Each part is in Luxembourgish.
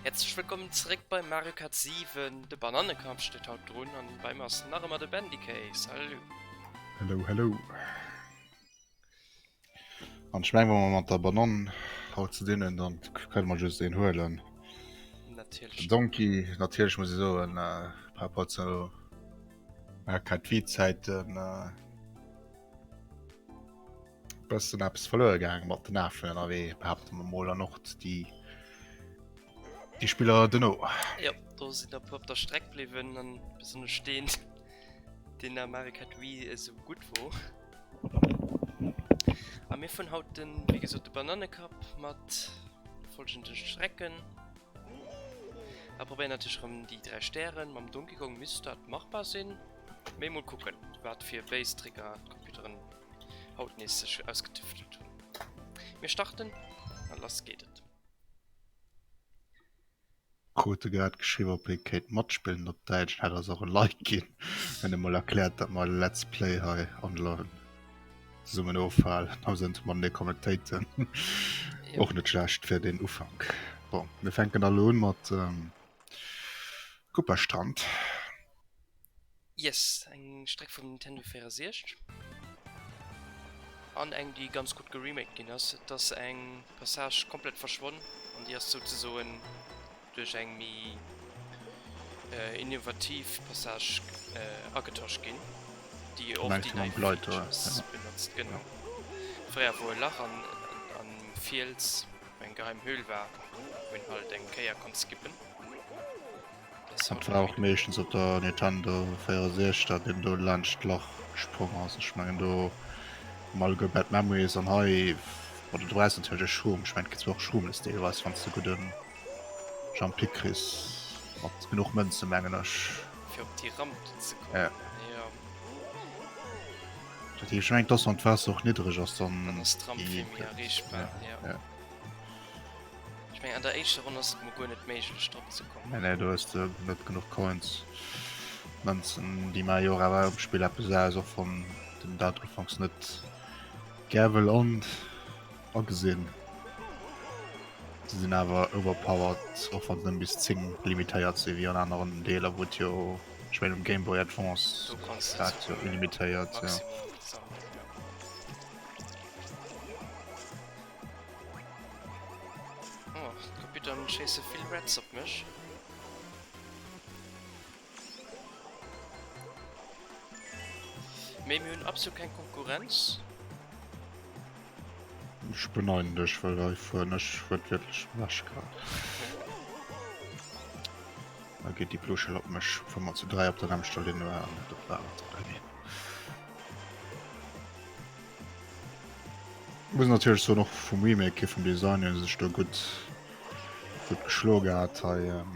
Herzlech wëllkommen zeréck bei Mario Kart 7, de Banannekamp steet haut drun an bei mir ass nach ëmmer de Bandicay, salut! Hello, hello! An ech mengen wa mer mat der Banann haut ze dinn hunn, dann kënne mer just een huelen. Natierlech. Den Donkey, natierlech muss ee soen, par rapport zu Mario Kart Wii-Zäiten, Bëssen eppes verluer gaang mat den Afen ënnerwee, behaapte mer mol, an och déi déi Spiller duerno. Jo, do sinn der e puer op der Streck bliwwen an besonnesch deen, deen der Marek hat, wéi e sou gutt wor. A mir fueren haut den, wéi gesot, de Banannekapp mat folgende Strecken a probéieren natierlech erëm déi dräi Stären. Mam Donkey Kong misst dat machbar sinn, mee mol kucken, wat fir béis Tricker d'Computeren haut nees sech ausgetüftelt hunn. Mir starten a lass geet et. Krute grad geschriwwen op ee kéint matspillen op Däitsch, dat ass och e Like ginn, hunn emol erkläert dat mer Let's Play hei online zesummen ofhalen, also net mat mir connectéiten. Och net schlecht fir den Ufank. Bon, mir fänken da lo un mat Kupperstrand. Yes, eng Streck vum Nintendo 64 an eng déi ganz gutt geremaked ginn ass. Et ass eng Passage komplett verschwonn an déi ass souzesoen duerch eng méi innovativ Passage agetosch ginn, déi och déi nei Features benotzt. Genau, fréier wou e Lach an am Fiels, eng geheim Höhl war, wou een halt eng Kéier konnt skippen. Dat war och meeschtens op der Nintendo 64, dat een do laanscht d'Lach gesprong ass. Ech mengen do Mal guer Bad Memories an hei war de Dreis natierlech e Schroom. Ech mengen kriss du och Schroomes deelweis, wann s de gudde Jumpy kriss mat genuch Mënze mengen ech. Fir op déi Ramp do ze kommen? Ja. Jo. Dat heescht, ech mengen dass wann d'Waasser och niddreg ass, dann. Dann ass d'Ramp vill méi erreechbar, jo. Jo. Ech meng an der éischter Ronn ass et mol guer net méiglech drop ze kommen. Nee nee do hues de net genuch Coins. Mënzen déi maache jo och awer um Spill eppes aus, och wann den dat ufanks net gär wëll an agesinn. Se sinn awer overpowered, och wann se nëmmen bis 10 limitéiert sinn, wéi an aneren Deeler wou et jo, ech meng um Game Boy Advance Do kanns du war et jo zwar limitéiert, jo. Maximum sammelen, jo. Oh, d'Kopitern schéisse vill Reds op mech. Mee mir hunn absolut keng Konkurrenz. Ech beneiden dech, well hei fueren ech Rëd wierklech ewech grad. Da geet déi blo Schell op mech, obwuel mer zu dräi op der nämmlechter Linn waren. Dat war awer ze dräi. Muss natürlich so noch vum Remake hier vum Design hun sech do gut gut geschlo gehabt hei ähm,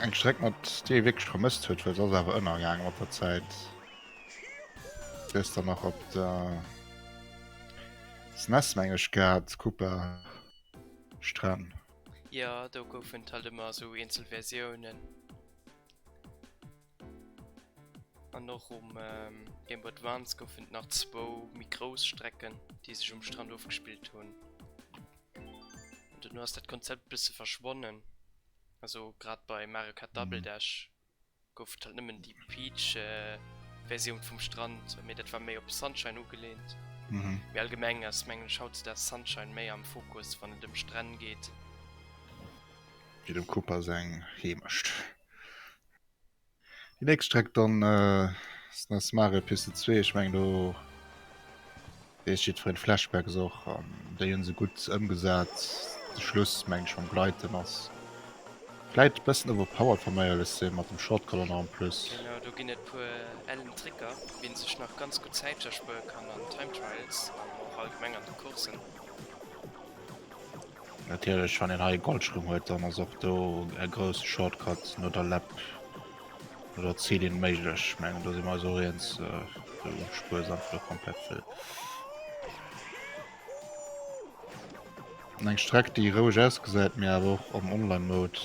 eng Streck mat dee wirklich vermisst huet, well ass awer ënnergaangen mat der Zäit. Hues dann nach op der SNES meng ech gehabt, Koopa Stren. Jo do goufen et halt ëmmer esou eenzel Versiounen. An och um Game Boy Advance goufen et nach zwou méi grouss Strecken, déi sech um Strand ofgespillt hunn. Duerno ass dat Konzept e bësse verschwonnen. Also grad bei Mario Kart Double Dash gouf et halt nëmmen déi Peach-Versioun vum Strand, mee dat war méi op Sunshine ugelehnt. Mee allgemeng ass, mengen ech, hautzedaags Sunshine méi am Fokus, wann et ëm Stränn geet. Wéi dem Koopa seng Heemecht. Déi nächst Streck dann ass dann Mario Piste 2, ech meng do weess jiddwereen d'Flashbacks och an déi hunn se gutt ëmgesat. De Schluss meng ech mam Gleiten ass vläit e bëssen overpowered wa mer éierlech sinn, mat dem Shortcut och nach en plus. Genau, do ginn et e puer ellen Tricker wéi een sech nach ganz gutt Zäit erspuere kann an Time Trials an och allgemeng an de Courssen. Natierlech wann een hei e Goldschlumm huet, dann ass och do e grousse Shortcut no der Läpp oder Zilin méiglech. Ech mengen do si mer eis och eens, esou spuersam vun der Compète wëll. Eng Streck déi roueg ausgesäit, mee awer och am Online Mode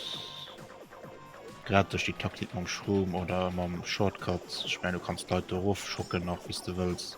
grad duerch déi Taktik mam Shroom oder mam Shortcut, ech mengen du kanns d'Leit do erof schocken nach wéi s de wëlls.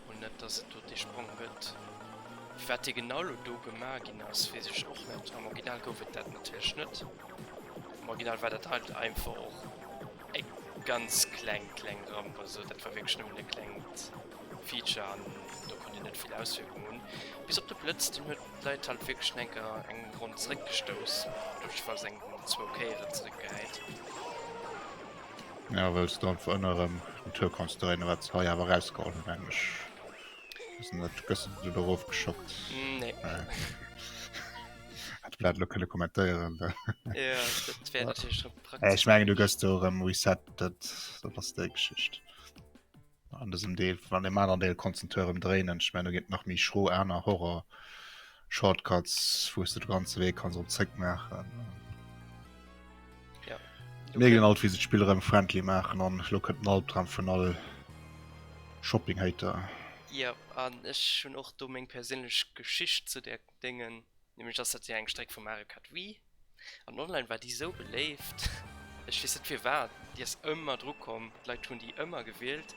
An net dass et do dee Sprong gëtt. Firwat dee genau elo do gema ginn ass, weess ech och net. Am Original gouf et dat natierlech net. Am Original war dat halt einfach och e ganz kleng, kleng Ramp. Also dat war wierklech nëmmen e klengt Feature an do konnt een net vill Auswierkung hunn. Bis op de Blëtz, deen huet d'Leit halt wierklech schon eng Kéier eng Ronn zeréckgestouss, duerch falls eng zwou Kéiere zeréckgehäit. Ja wëlls du einfach ënner erëm den Tour kanns dréine wat se hei awer rausgeholl hunn eng mech wissen net gësse du doerof geschockt nee. äh. hat blat lo kënne kommentéieren da ja, dat wär natürlich schon praktisch ech mengen du gëss do erëm reset dat dat ass déi Geschicht An dësem Deel an dem aneren Deel konntest du den Turm dréinen. Ech mengen, do ginn et nach méi schro aner Horror-Shortcuts, wou du de ganze Wee kannst erëm zréck maachen. Ja. Mir ginn alt, wéi se d'Spill erëm friendly maachen an elo kënnt den Albdram vun all Shopping-Hater. Ja, an ech hunn och do meng perséinlech Geschicht zu där Dengen, nämlech ass dat jo eng Streck vu Mario Kart Wii an online war déi sou beléift, ech weess net firwat, déi ass ëmmer dru komm, d'Leit hunn déi ëmmer gewielt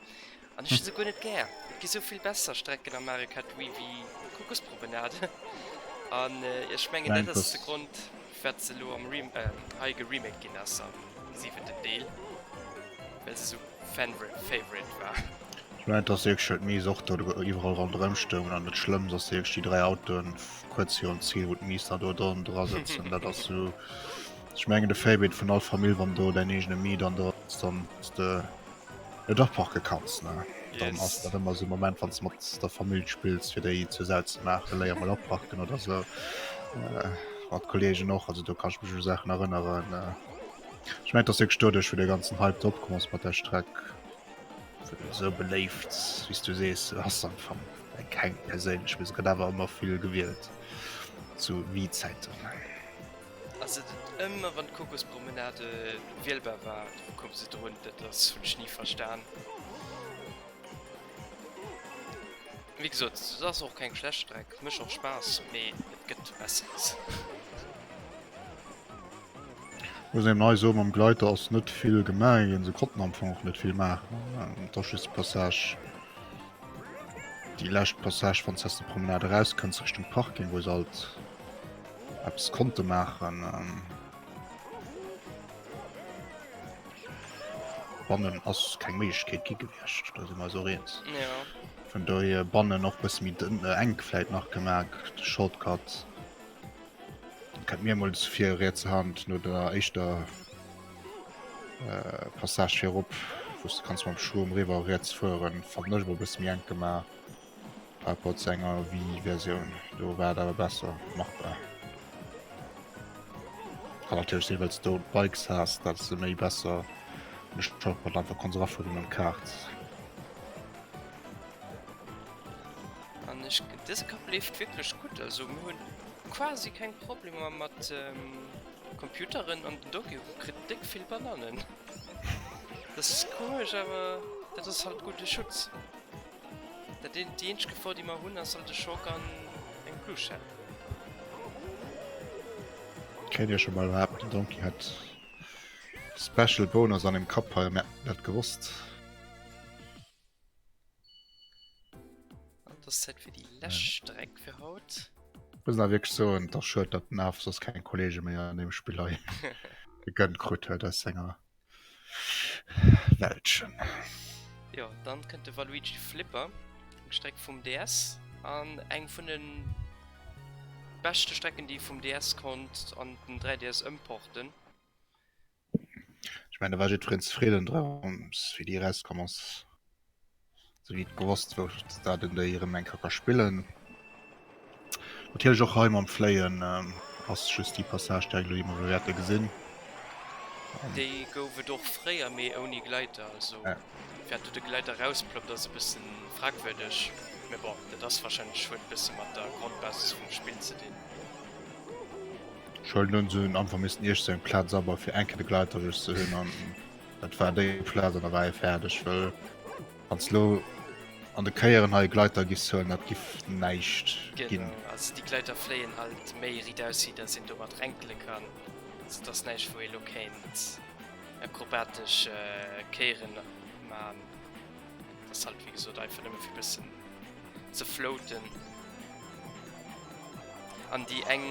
an ech hu se guer net gär, et gi souvill besser Strecken am Mario Kart Wii wéi Kuckuckspromenade an ech mengen dat ass de Grond. Wat se elo am Rem hei geremaked ginn ass am siwenten Deel, well se esou Fan-Favorite war. Ech mengen, et ass wierklech, well d'Miiss och do iwwerall ronderëm stoungen an et Schlëmms ass wierklech, déi dräi Autoen kuerz virum Zil, wou d'Miiss da do dran dra sëtzen, dat ass esou, ech mengen, de Favorite vun all Famill, wann do däin eegene Mii dann do ass, dann hues de. Jo dach parke kanns ne, dann ass dat ëmmer sou Moment wann s mat der Famill spills fir déi zur Säit ze maachen, léier mol aparken oder sou mat Kollegen och, also do kann ech mech u Saachen erënneren. Ech mengen et ass wierklech doduerch wou de ganzen Hype do opkomm ass mat der Streck, well esou beléift wéi s du sees ass am Fong eng keng perséinlech, mee se gëtt awer ëmmer vill gewielt zu Wii-Zäiten. Ass et et ëmmer wann d'Kokospromenade wielbar war koum se drun? Dat ass hunn ech ni verstan. Wéi gesot et ass och keng schlecht Streck, mécht och Spaass, mee et gëtt besseres. Muss eben hei soen, mam Gleiter ass net vill gemaach ginn, se konnten am Fong och net vill maachen. Et ass just déi Passage, déi lescht Passage, wann s aus der Promenade erauskënns Richtung Parking, wou se alt Eppes konnte maachen. Ähm. Bannen ass keng Méiglechkeet gi gewiescht, da si mer so eens. Ja. Vun dohier bannen och bësse méi dënn äh, enk vläit nach gemerk, de Shortcut. Kennt mir mol zu fir riets Hand no der éischter äh, Passage fir op, wou's du kanns mam Schurm riwwer riets fueren, fand ech mol bësse méi enk gemaach. Par rapport zu enger Wii-Versioun. Do war et awer besser machbar. Kann natürlich sinn, well du Bikes hast, dat se méi besser Shortcut einfach kon rafu vun dem Kart. An ech dëse Kapp leeft wirklich gut, also mir hunn quasi keng Problemer mat ähm, Computeren an den Doki kritt déck vill Banannen. Das ist komisch, awer dat ass halt gute Schutz. Dat déi eenzeg Gefor déi mer hunn ass alt e Schock an eng Plushette. Kéint ech emol behaapten den Donkey hätt Special Bonus an dem Kapp hei a mer hätten dat gewosst. An et ass Zäit fir déi lescht Streck fir haut. Muss nach wierklech soen, et ass schued dat den Arf soss keng Kollege méi an deem Spill hei gegönnt krut huet aus senger. Weltchen. Jo, dann kënnt de Waluigi Flipper, eng Streck vum DS an eng vun de beschte Strecken, déi vum DS konnt an den 3DS ëmporten. Ech mengen, do war jiddwereen zefridden drëms, wéi déi erauskommen ass. Sou geet gewosst wou ech dat en Day erem eng Kéier ka spillen. Natierlech och hei mam Fléien ass just déi Passage déi ech elo eemol wäerte gesinn. Déi gouf et och fréier mee ouni Gleiter, also wäert do de Gleiter rausploppt ass e bëssen fragwürdeg, mee bon dat ass wahrscheinlech huet e bësse mat der Grondbasis vum Spill ze dinn. Ech huelen un se hunn einfach missten iergst eng Platz abau fir eng Kéier de Gleiter just ze hunn an Dat war déi Plaz an der Rei fäerdeg wëll ans Lo an de Kéieren hei Gleiter gis hunn dat giff näischt ginn. Ass déi Gleiter fléien halt méi riit aus si dat sinn do mat renkele kann. Dat ass näischt wou ee lo kéint akrobatesch Kéieren man. Dat ass halt wéi gesot einfach nëmme fir bëssen ze floaten. An déi eng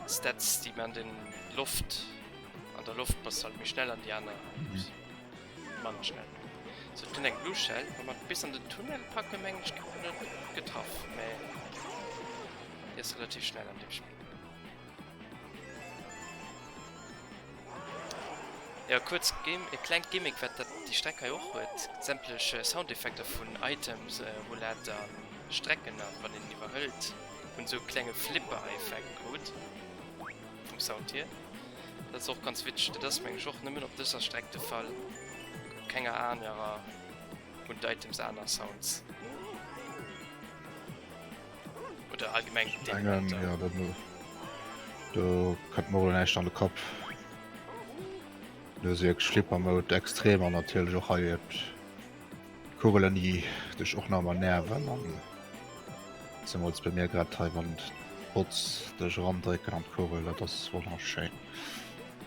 Stats déi mer an den Loft. An der Loft bass halt méi schnell an déi aner manner schnell. So et kënnt eng Blue Shell, wa mer bis an den Tunnel packe mengen ech ginn mer net getraff, mä déi ass relativ schnell an deem Spill. Jo kuerz Gim e klengt Gimmick wat dat déi Streck hei och huet, sämtlech Soundeffekter vun Items, Rouletten an Strecken an wann een iwwerhëlt hunn esou e klenge Flipper Effekt krut. Vum Sound hier. Dat ass och ganz witzeg, dat ass mengen ech och nëmmen op dëser Streck de Fall. Op kenger anerer hunn d'Items aner Sounds. Oder allgemeng op deenen Mengen, Elementer. ja, dat muss. Do kënnt mer elo näischt an de Kapp. Do ass wierklech Flipper Mode extrem an natierlech och hei et. Kugelen déi dech och nach emmer nerven an zemools bei mir grad hei wann d'Bots dech erandrécken an d'Kugel, dat ass wonnerschéin.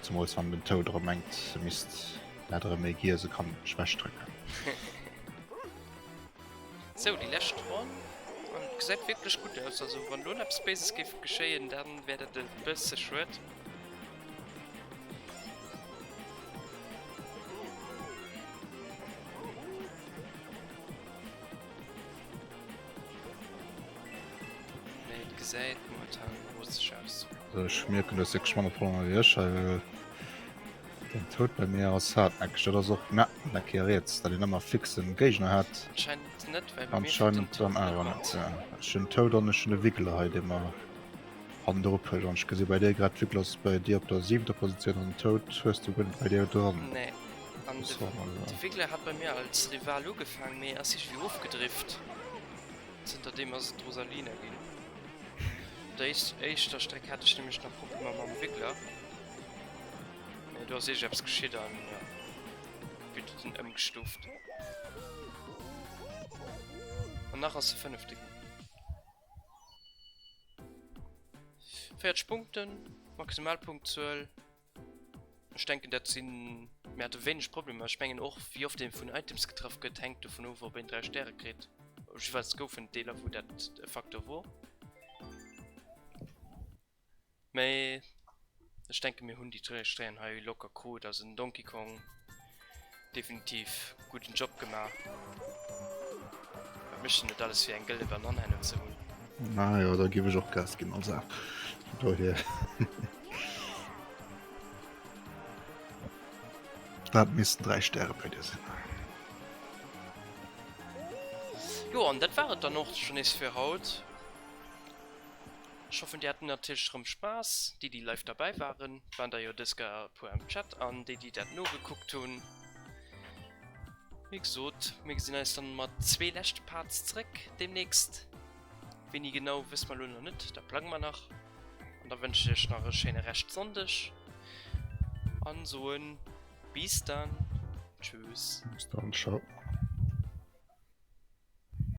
Zemools wann den Toad erëm mengt e misst dat erëm méi giess e kann mech wegdrécken. Sou déi lescht Ronn an et gesäit wierklech gutt aus, also wann elo net eppes Béises géif geschéien dann wär dat e bësse schued. Ech mierken dass se geschwann op 100 wéi ech hei well den Toad bei mir ass hartnäckeg. Dat ass och na dat kee riets, dat een ëmmer fixen Géigner hat. Anscheinend net, well bei mir steet den Toad net op. Anscheinend dann awer net, jo. Ech hunn den Toad an ech hunn de Wiggler hei dee mer An der Rupp an ech gesi bei dir grad wickel ass bei dir op der 7 der Positioun an Tout hues du gënnt bei dir dran. Nee. An de, de Wiggler hat bei mir als Rival ugefaang, mee ass iergendwéi ofgedrift. Zënter deem ass et d'Rosalina ginn. Op der éis, éischter Streck hat ech nämlech nach Problemer mam Wiggler. Mee do ass iergend eppes geschitt an jo, wéi du den ëmgestuft. An nach ass se Fënnefte ginn. Fäerdeg Punkten, maximal Punktzuel. Ech denken dat sinn mir hat wéineg Problemer. Ech mengen och wéi oft dee vun Items getraff gëtt hängt dovun of op een 3 Stäre kritt. Jeweils goufen Deeler wou dat e Faktor wor. Mee ech denken mir hun déi Stréien hei locker krut, also den Donkey Kong definitiv gudden Job gemaach. Wat mecht en net alles fir eng gëlle Banann hennen ze hun. Ah jo, da giff ech och Gas gin als Aap dohier. Dat missten 3 Stäre bei dir sin. Jo an dat war et dann och schon nees fir haut. Ech hoffen dir haat natirlech erem Spass, déi déi live derbäi waren waren der jo des geier e puer am Chat an déi déi daat nogekuckt hun. Wéi gesoot mir gesin eis dann mat zwee leschte Parts zeréck demnächst, wéini genau wësse mer lo nach net, daat plange mer nach an da wënschen ech iech nach e schéine Rescht Sonndeg an soen bis dann tschüss. Bis dann ciao.